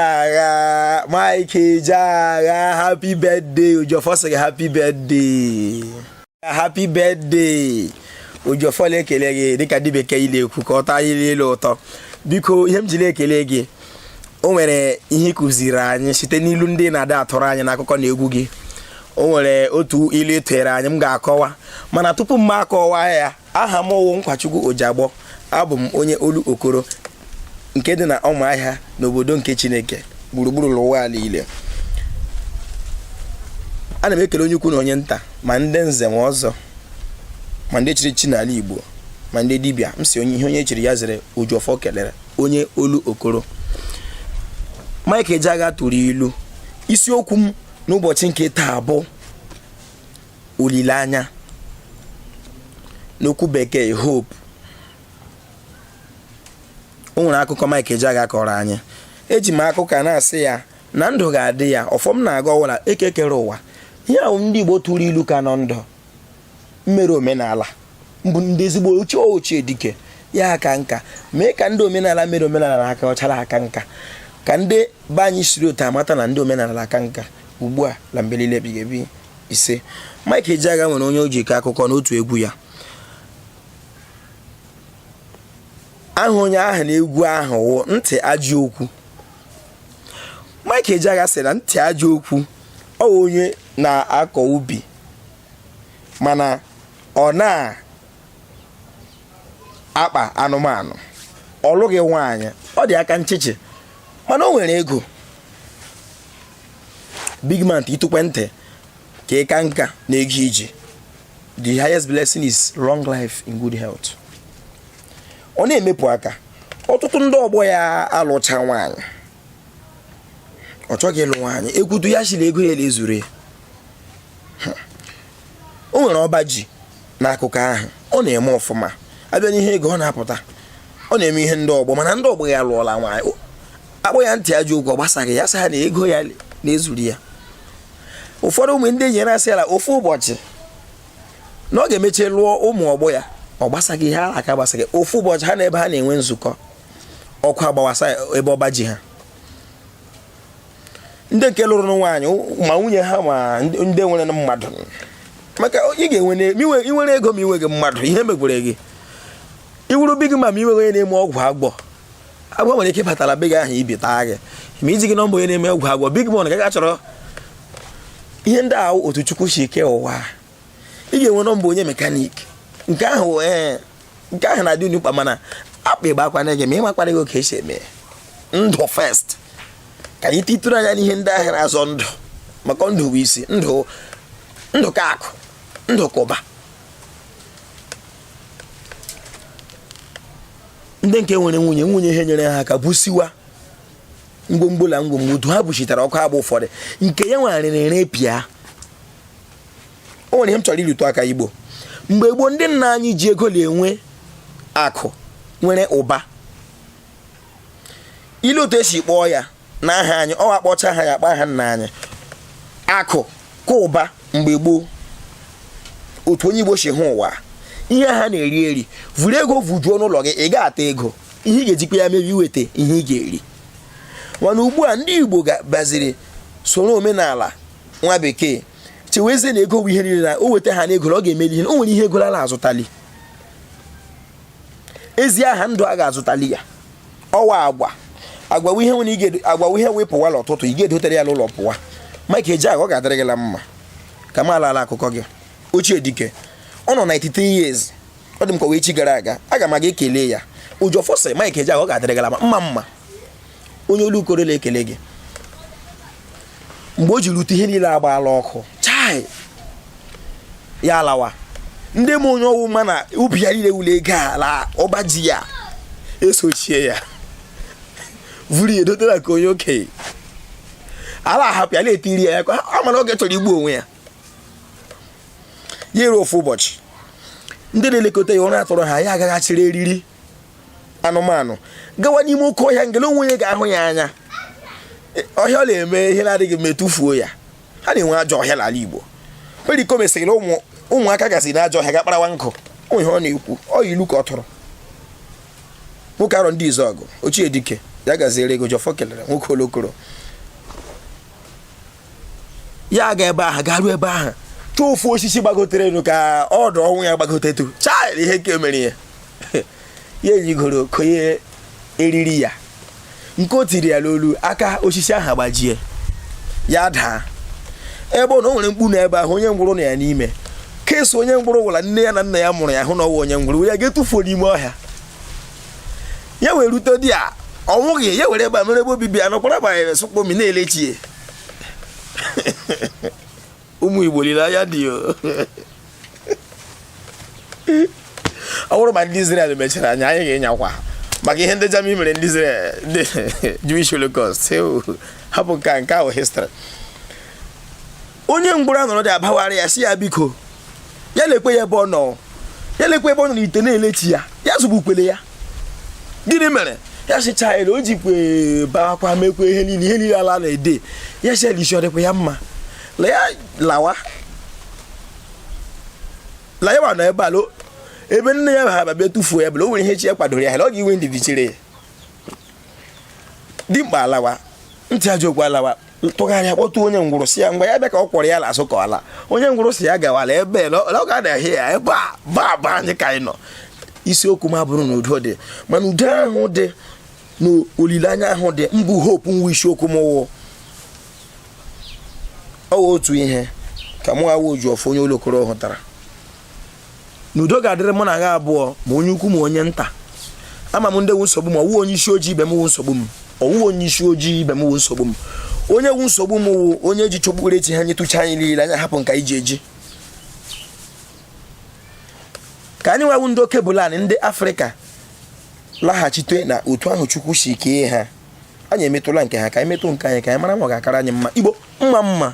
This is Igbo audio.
Ejeagha, Mike Ejeagha, happy birthday. Ojiọfọ sịrị happy birthday. Happy birthday. Ojiọfọ na-ekele gị dịka ndị bekee ile ekwu ka ọ taa ile ile ụtọ. Biko ihe m ji na-ekele gị o nwere ihe ị kụziri anyị site n'ilu ndị na-ada atụrụ anyị n'akụkọ na egwu gị. O nwere otu ilu ị tụnyere anyị m ga-akọwa mana tupu m akọwa ya aha m wụ nkwachukwu ojiagbọ abụ m onye olokoro nke dị na ụmụahịa n'obodo nke chineke gburugburu ụwa niile ana m ekele onye ukwu na onye nta ma ndị nze ma ọzọ ma ndị chiri echi n'ala igbo ma ndị dibịa m sị ihe onye chiri ya zere ojiọfọ kelere onye olokoro mike ejeagha tụrụ ilu isiokwu m n'ụbọchị nke taa bụ olileanya n'okwu bekee hope o nwere akụkọ Mike Ejeagha kọrọ anyị eji m akụkọ a na-asị ya na ndụ ga-adị ya ọfụma na-aga ọwara ekekere ụwa ihe ahụ ndị Igbo tụrụ ilu ka nọ ndụ mmere omenala mbụ ndị ezigbo ochie ochie dike ya aka nka mee ka ndị omenala mere omenala na aka ọchara aka nka ka ndị be anyị siri otu amata na ndị omenala aka nka ugbu a na mgbe niile ebighị ebi ise Mike Ejeagha nwere onye o ji kọọ akụkọ n'otu egwu ya aha onye ahụ na egwu ahụ wụ ntị ajọ okwu Mike Ejeagha sị na ntị ajọ okwu ọ wụ onye na-akọ ubi mana ọ na-akpa anụmanụ ọ lụghị nwaanyị ọ dị aka nchịchị mana o nwere ego big man itukwe ntị ka ịka nka na-eji iji the highest blessing is long life in good health ọ na-emepụ aka ọtụtụ ndị ọgbọ ya alụcha nwaanyị ọ chọghị ịlụ nwaanyị ekwutu ya sịrị ego ya ezuru ya o nwere ọba ji n'akụkọ ahụ ọ na-eme ọfụma abịa n'ihe ego ọ na-apụta ọ na-eme ihe ndị ọgbọ mana ndị ọgbọ ya lụọla nwaanyị akpọ ya ntị ajọ okwu ọ gbasaghị ya sị ha na ego ya na-ezuru ya ụfọdụ ụmụ ndị enyi ya na-asị ya ofu ụbọchị na ọ ga-emecha lụọ ụmụ ọgbọ ya ọ gbasaghị ihe ha la-aka gbasaghị ofu ụbọchị ha nọ ebe ha na-enwe nzukọ ọkụ agbawasa ebe ọba ji ha ndị nke lụrụ nwaanyị ma nwunye ha ma ndị nwere mmadụ maka ị ga-enwe i nwere ego ma inweghị mmadụ ihe mekwara gị ị wụrụ big man ma inweghị onye na-eme ọgwụ agwọ agwọ nwere ike ịbata la be gị ahụ i bi taa gị ma i jighị nọmba onye na-eme ọgwụ agwọ big man ga-aga chọrọ ihe ndị ahụ otu chukwu si kee ụwa ị ga-enwe nọmba onye mekanik nke ahụ ee nke ahụ na-adị unu mkpa mana akpa ịgba akwa na-ege ma ịmakwara gị oke esi eme ndụ first ka anyị titụrụ anya n'ihe ndị ahụ na-azọ ndụ maka ndụ bụ isi ndụ ndụ ka akụ ndụ ka ụba ndị nke nwere nwunye nwunye ha nyere ha aka busiwa ngwongwo na ngwongwo otu ha buchitara ọkụ agba ụfọdụ nke ya nwarịrị repair o nwere ihe m chọrọ ịrụtụ aka igbo mgbe gboo ndị nna anyị ji ego na-enwe akụ nwere ụba i lee otu esi kpọọ ya na aha anyị ọ akpọcha ha ya akpọ aha nna anyị akụ ka ụba mgbe gboo otu onye igbo si hụ ụwa ihe ha na-eri eri vuru ego vujuo n'ụlọ gị ị ga-ata ego ihe ị ga-ejikwa ya mee bụ iweta ihe ị ga-eri mana ugbu a ndị igbo bịaziri soro omenala nwa bekee chewezie na ego wụ ihe niile na o weta ha n'ego ọ ga-emeli ihe o nwere ihe ego ala azụtali ezi aha ndụ a ga-azụtali ya ọ wụ agwa agwawa ihe nwere ige agwawa ihe wepụwa l'ụtụtụ ị ga-edotere ya n'ụlọ pụwa Mike Ejeagha ọ ga-adịrị gị la mma ka m ala ala akụkọ gị ochie dike ọ nọ 93 years ọ dị m ka week gara aga aga m aga kelee ya oji ọfọ sị Mike Ejeagha ọ ga-adịrị gị la mma mma onye Olokoro na-ekele gị mgbe o ji rute ihe niile agbaala ọkụ chai ya alawa ndị m onye ọ wụ ma na ubi ya niile wule ego ala ọba ji ya esochie ya vuru ya edotara ka onye okenye ala ahapụ ya na-etiri ya ya ka ọ mara oge chọrọ igbu onwe ya ya eruo ofu ụbọchị ndị na-elekọta ya ụra atụrụ ha ya aga ga chịrị eriri anụmanụ gawa n'ime oke ọhịa nga la onwe onye ga-ahụ ya anya ọhịa ọ na-eme ihe na-adịghị mma e tufuo ya ha na-enwe ajọ ọhịa n'ala Igbo Pericoma sịrị ụmụ ụmụaka gasị na ajọ ọhịa ga kparawa nkụ ọ wụ ihe ọ na-ekwu ọ wụ ilu ka ọ tụrụ nwoke Arondizuogu ochie dike ya gaziere gị oji ọfọ kelere nwoke Olokoro ya ga ebe ahụ garuo ebe ahụ chọọ ofu osisi gbagotere elu ka ọdụ ọnwụ ya gbagotetu chai ihe nke mere ya ya enyigoro konye eriri ya nke o tiri ya n'olu aka osisi ahụ agbajie ya daa ebe ọ na o nwere mkpu na ebe ahụ onye ngwụrọ nọ ya n'ime case onye ngwụrọ wụ la nne ya na nna ya mụrụ ya hụ na ọ wụ onye ngwụrọ ya ga-etufuo n'ime ọhịa ya wee rute di ya ọ nwụghị ya were ebe a mere ebe obibi ya nọkwara banyere sụkpomi na-elechi ya ụmụ igbo lile anya dị ya ọ bụrụ ma ndị Israel mechara anya anyị ga-enyakwa maka ihe ndị Germany mere ndị Israel ndị Jewish Holocaust hapụ nke a nke ahụ history onye ngwụrụ anọrọ dị abawara ya si ya biko ya lekwe ya ebe ọ nọ ya lekwe ebe ọ nọ n'ite na-ele chi ya ya azọgbukwele ya gịnị mere ya sịcha ele o jikwe baakwa mekwa ihe niile ihe niile ala na-ede ya si elisi ọ dịkwa ya mma la ya lawa la ya nọ ebe ala ebe nne ya ha bubịa tụfuo ya bụ la o nwere ihe chi ya kwadoro ya ọ ga-enwe ndidi chere ya dimkpa alawa ntị ajọ okwu alawa tụgharịa kpọtụ onye ngwụrụ si ya ngwa ya bịa ka ọ kwọrọ ya n'azụ ka ọ laa onye ngwụrụ si ya gawala ebe ọ ga-adahie ya ebe a ba ba anyị ka anyị nọ isiokwu m abụrụ na udo dị mana udo ahụ dị na olileanya ahụ dị mbụ hope nwa isiokwu m wụ ọ otu ihe ka mụ nwa oji ọfọ onye olokoro hụtara na udo ga-adịrị mụ na ha abụọ ma onye ukwu ma onye nta ama m ndị wu nsogbu m ọ wụ onye isi ojii ibe m wu nsogbu m ọ wụ onye isi ojii ibe m wu nsogbu m onye wu nsogbu m wụ onye ji okpukpere chi ha nye tụcha anyị niile anya hapụ nka iji eji ka anyị nwa wu ndị alkebulan ndị afrịka laghachite na otu ahụ chukwu si kee ha anyị emetụla nke ha ka anyị metụ nke anyị ka anyị mara ma ọ ga-akara anyị mma igbo mma mma